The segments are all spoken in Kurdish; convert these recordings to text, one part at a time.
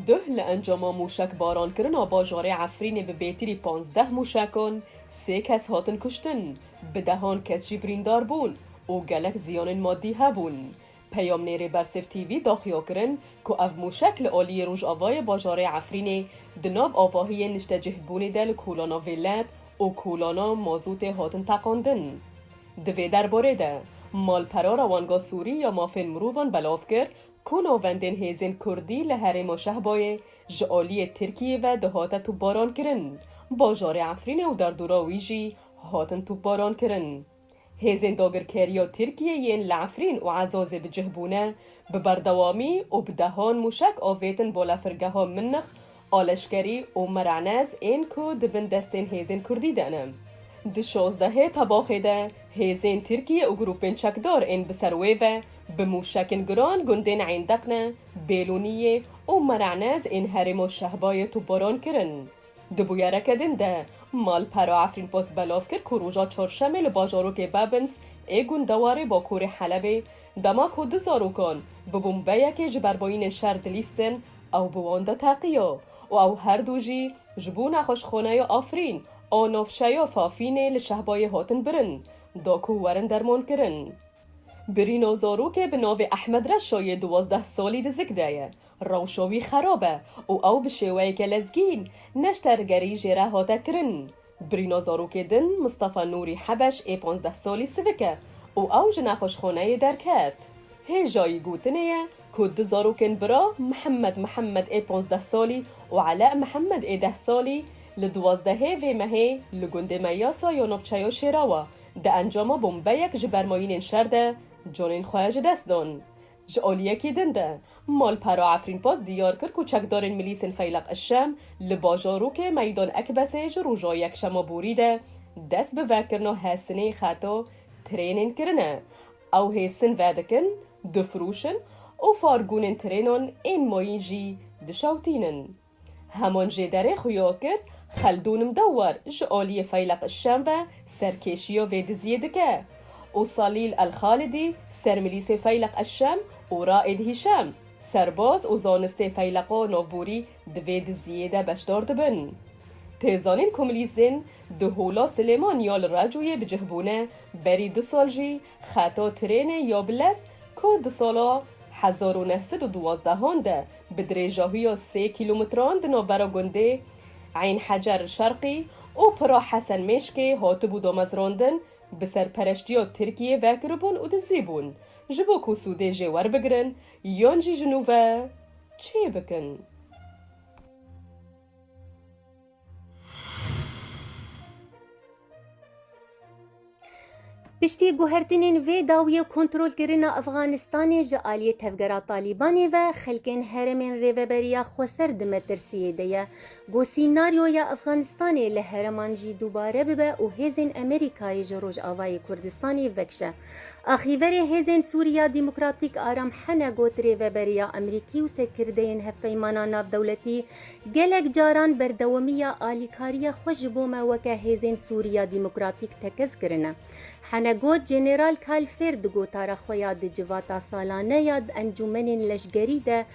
Duh li encama mûşekbarankirina bajarê Efrînê bi bêtirî pazdeh mûşekan sê kes hatin kuştin, bi dehan kes jî birîndar bûn û gelek ziyanên madî hebûn. Peyamnêrê Bersif TV daxuya kirin ku ev mûşek li aliyê rojavayê bajarê Efrînê di nav avahiyên niştecihbûnê de li kolana vêlet û kolana mazotê hatin teqandin. Di vê derbarê de malpera Rewanga Sûrî ya Mafên Mirovan belav kir ku navendên hêzên Kurdî li herêma Şehbayê ji aliyê Tirkiyê ve dihate topbarankirin, bajarê Efrînê û derdora wî jî hatin topbarankirin. Hêzên dagirkeriya Tirkiyê yên li Efrîn û Ezazê bi cih bûne, bi berdewamî û bi dehan mûşek avêtin balafirgeha Minnix a leşkerî û Meranez ên ku di bin destên hêzên Kurdî de ne. Di şazdehê Tebaxê de hêzên Tirkiyê û grûpên çekdar ên bi ser wê ve bi mûşekên giran gundên Eyn Deqne, Bêlûniyê û Meranez ên herêma Şehbayê topbaran kirin. Di bûyereke din de, malpera Efrînpost belav kir ku roja Çarşemê li bajarokê Babins ê gundewarê bakurê Helebê, dema ku du zarokan bi bombeyekê ji berbayînên şer dilîstin ew bi wan de teqiya û ew her du jî ji bo nexweşxaneya Afrîn a navçeya Fafînê li Şehbayê hatin birin da ku werin dermankirin. Birîna zarokê bi navê Ehmed Reşa yê duwazdeh salî di zik de ye. Rewşa wî xerab e û ew bi şêweyeke lezgîn neştergerî jê re hate kirin. Birîna zarokê din Mistefa Nûrî Hebeş ê panzdeh salî sivik e û ew ji nexweşxaneyê derket. Hêjayî gotinê ye ku du zarokên bira Mihemed Mihemed ê panzdeh salî û Ele Mihemed ê deh salî li duwazdehê vê mehê li gundê Meyasa ya navçeya Şêrawa di encama bombeyek ji bermayînên şer de canên xwe ji dest dan. Ji aliyekî din de, malpera Efrînpost diyar kir ku çekdarên milîsên Feyleq Eşşem li bajarokê Meydan Ekbesê ji roja yekşema borî de dest bi vekirina hesinê xeta trênên kirine. Ew hêsin vedikin, difiroşin û fargûnên trênan ên mayîn jî dişewtînin. Heman jê derê xwe ya kir, Xeldûn Mdewwar ji aliyê Feyleq Şem ve serkêşiya vê diziyê dike û Salîl Elxalidî sermilîsê Feyleq Şem û Raîd Hîşem serbaz û zanistê Feyleqa Navborî di vê diziyê de beşdar dibin. Tê zanîn ku milîsên di Hola Silêman ya li Recûyê bi cih bûne, berî du sal jî Xeto trênê Yobles ku di sala hezar û neh sed û duwazdeh an de bi dirêjahiya sê kîlometran di navbera gundê Eyn Hecer Şerqî û Pira Hesen Mêşkê hatibû damezrandin, bi serpereştiya Tirkiyê vekiribûn û dizî bûn ji bo ku sûdê jê werbigirin yan jî ji nû ve çêbikin. Piştî guhertinên vê dawiyê kontrolkirina Efxanistanê ji aliyê tevgera Talîbanê ve xelkên herêmên Rêveberiya Xweser di metirsiyê de ye. Ku sînaryoya Efxanistanê li hereman jî dubare bibe û hêzên Amerîkayê ji Rojavayê Kurdistanê vekşe. Axîverê Hêzên Sûriya Demokratîk Aram Hene got rêveberiya Amerîkî û serkirdeyên hevpeymana navdewletî Gelek caran berdewamiya alîkariya xwe ji bo me weke hêzên Sûriya Demokratîk tekez kirine. Hene got Jeneral Kalfêr di gotara xwe ya di civata salane ya di encûmenên leşgerî de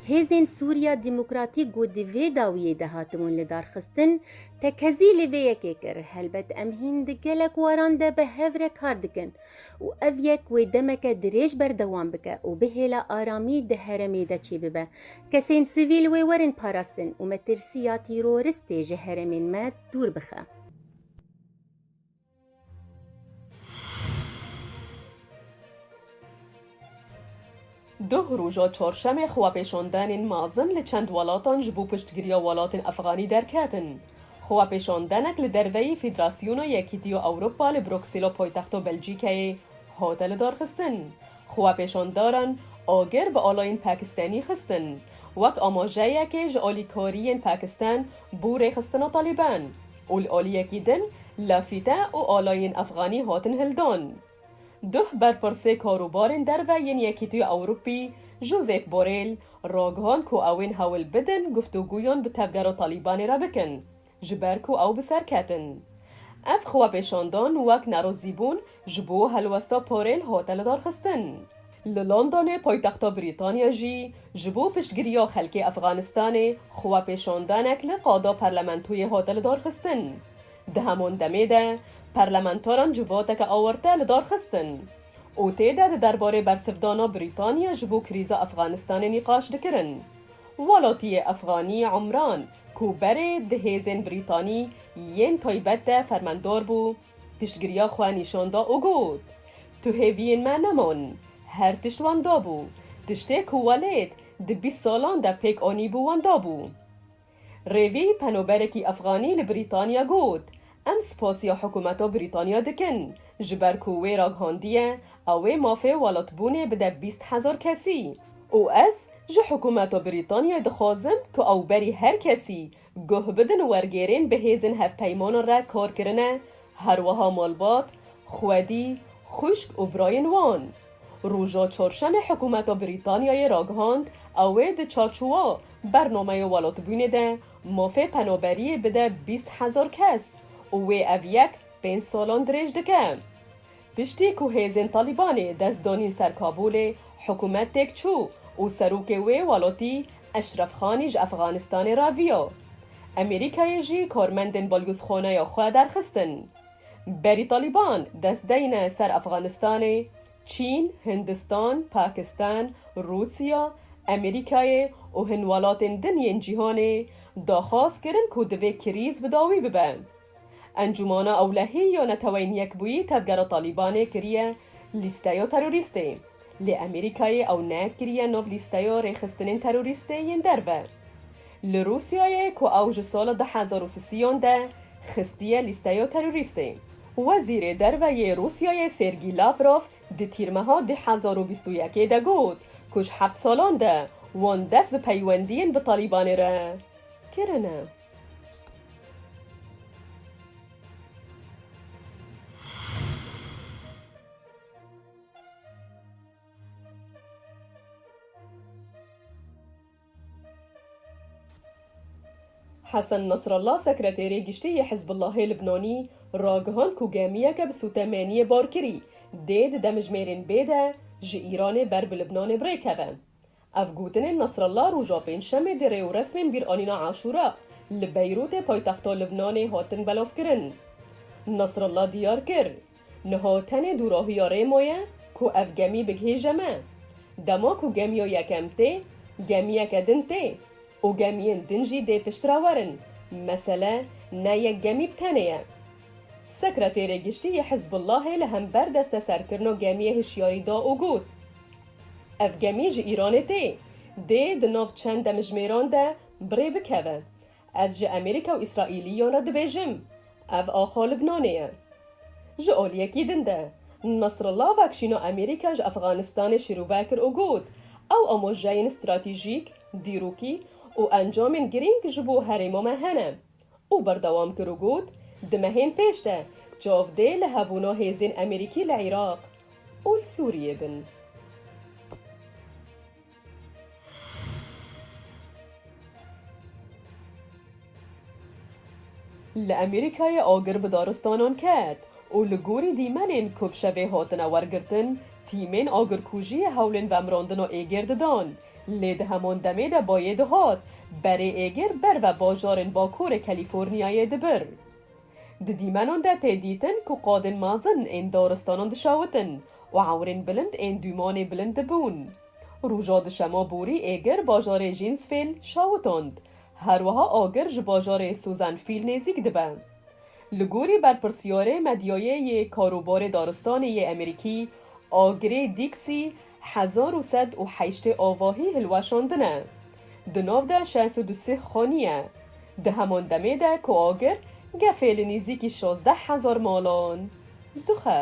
Hêzên Sûriya Demokratîk ku di vê dawiyê de hatibûn lidarxistin, tekezî li vê yekê kir. Helbet em hîn di gelek waran de bi hev re kar dikin û ev yek wê demeke dirêj berdewam bike û bihêla aramî di heremê de çêbibe. Kesên sivîl wê werin parastin û metirsiya tîroristê ji herêmên me dûr bixe. Duh roja çarşemê xwepêşandenên mezin li çend welatan ji bo piştgiriya welatên efxanî derketin. Xwepêşandenek li derveyî Federasyona Yekîtiya Ewropa li Bruksêla paytexta Belcîkeyê hate lidarxistin. Xwepêşandaran agir bi alayên Pakistanî xistin wek amajeyekê ji alîkariyên Pakistan bû rêxistina Talîban û li aliyekî din lafîte û alayên Efxanî hatin hildan. Duh berpirsê karûbarên derve yên Yekîtiya Ewrûpî Josep Borrell ragihand ku ew ên hewl bidin guftûgûyan bi tevgera Talîbanê re bikin ji ber ku ew bi ser ketin. Ev xwepêşandan wek nerozîbûn ji bo helwesta parêl hate lidarxistin. Li Londonê paytexta Brîtanya jî ji bo piştgiriya xelkê Efxanistanê xwepêşandanek li qada parlamentoyê hate lidarxistin. Di heman demê de parlamentaran civateke awarte lidarxistin û tê de di derbarê bersivdana Brîtanya ji bo krîza Efxanistanê nîqaş dikirin. Welatiyê Efxanî Umran ku berê di hêzên Brîtanî yên taybet de fermendar bû, piştgiriya xwe nîşan da û got, Tu hêviyên me nemon, her tişt wenda bû, tiştê ku welêt di bîst salan de pêk anîbû wenda bû. Rêvî, penoberekî efxanî li Brîtanya got, Em spasiya hikûmeta Brîtanya dikin ji ber ku wê raghandiye ew wê mafê welatbûnê bide bîst hezar kesî û ez ji hikûmeta Brîtanyayê dixwazim ku ew berî her kesî guh bidin wergêrên bi hêzên hevpeymanan re kar kirine her wiha malbat, xwedî, xwişk û birayên wan. Roja Çarşemê hikûmeta Brîtanyayê ragihand ew wê di çarçowa Bernameyê Welatbûnê de Mafê penaberiyê bide bîst hezar kes û wê ev yek pênc salan dirêj dike. Piştî ku hêzên Talîbanê dest danîn ser Kabûlê, hikûmet têk çû û serokê wê welatî Eşref Xanî ji Efxanistanê raviya. Amerîkayê jî karmendên balgozxaneya xwe derxistin. Berî Talîban dest deyne ser Efxanistanê. Çîn, Hindistan, Pakistan, Rûsya, Amerîkayê û hin welatên din yên cîhanê daxwaz kirin ku divê krîz bi dawî bibe. Encûmana Ewlehî ya Neteweyên Yekbûyî tevgera Talîbanê kiriye lîsteya terorîstê, lê Amerîkayê ew nekiriye nav lîsteya rêxistinên terorîstê yên derve. Li Rûsyayê ku ew ji sala du hezar û sisiyan de xistiye lîsteya terorîstê, Wezîrê Derve yê Rûsyayê Sergî Lavrov di Tîrmeha du hezar û bîst û yekê de got ku ji heft salan de wan dest bi peywendiyên bi Talîbanê re kirine. Hesen Nasrallah sekreterê giştî yê Hizbullahê Libnanî ragihand ku gemiyeke bi sûtemeniyê bar kirî dê di demijmêrên bê de ji Îranê ber bi Libnanê bi rê keve. Ev gotinên Nasrallah roja pêncşemê di rêwresmên bîranîna Aşûra li Beyrûtê paytexta Libnanê hatin belavkirin. Nasrallah diyar kir, Niha tenê dûrohiya Rêmo ye ku ev gemî bigihêje me. Dema ku gemiya yekem tê, gemiyeke din tê û gemiyên din jî dê piştre werin. Mesele ne yek gemî bi tenê ye. Sekreterê Giştî yê Hizbûllahê li hember desteserkirina gemiyê hişyarî da û got, Ev gemî ji Îranê tê, dê di nav çend demjimêran de bi rê bikeve. Ez ji Amerîka û Îsraîlî yan re dibêjim, ev axa Libnanê ye. Ji aliyekî din de, Nasrallah vekşîna Amerîka ji Efxanistanê şirûve kir û got, Ew amojeyên stratejîk, dîrokî û encamên girîng ji bo herêma me hene. Û berdewam kir û got, Di mehên pêş de, çav dê li hebûna hêzên Amerîkî li Iraq û li Sûriyê bin. Li Amerîkayê agir bi daristanan ket û li gorî dîmenên ku bi şevê hatine wergirtin, tîmên agirkujiyê hewlên vemrandina êgêr didan, lê di heman demê de bayê dihat berê êgêr ber ve bajarên bakurê Kalîforniyayê dibir. Di dîmenan de tê dîtin ku qadên mezin ên daristanan dişewitin û ewrên bilind ên dûmanê bilind dibûn. Roja duşema borî êgir bajarê Jînsfêl şewitand, her wiha agir ji bajarê Suzanfîl nêzîk dibe. Li gorî berpirsyarê medyayê yê karobarê daristanê yê Emerîkî Agrey Dîksî, Hezar û sed û heştê avahî hilweşandine. Di nav de şeş û du sih xanî ye. Di heman demê de ku agir gefê li nîzîkî şazdeh hezar malan dixe.